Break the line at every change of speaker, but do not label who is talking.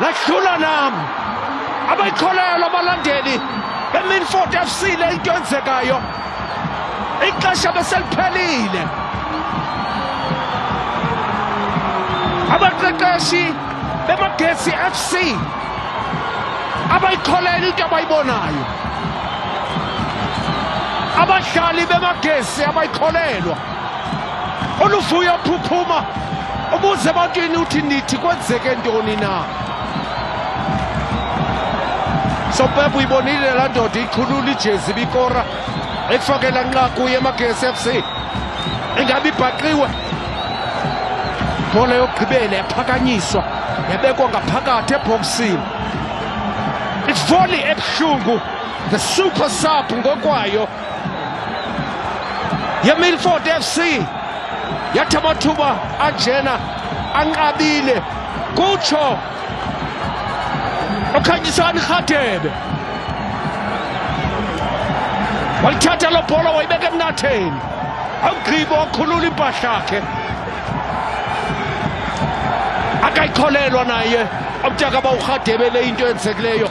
lahlula nam abayikholelwa abalandeli beminford f c le into enzekayo ixesha beseliphelile abaqeqeshi bemagesi f c abayikholelwa into abayibonayo abadlali bemagesi abayikholelwa oluvuyo phuphuma ubuze ebantwini uthi nithi kwenzeke ntoni na sopepa uyibonile laa ndoda iqhulula ijezi ibikora ekufakela nqa kuye emagesi f c ingabe ibhaqiwe ibhola yokugqibela yaphakanyiswa yabekwa ngaphakathi ebhoksini ivoli ebuhlungu the super sub ngokwayo yemilford f c yathi amathuba anjena anqabile kutsho okhanyisani rhadebe walithatha lo bhola wayibeka emnatheni awugqibo wakhulula impahla yakhe akayikholelwa naye omtaka bawurhadebele into eyenzekileyo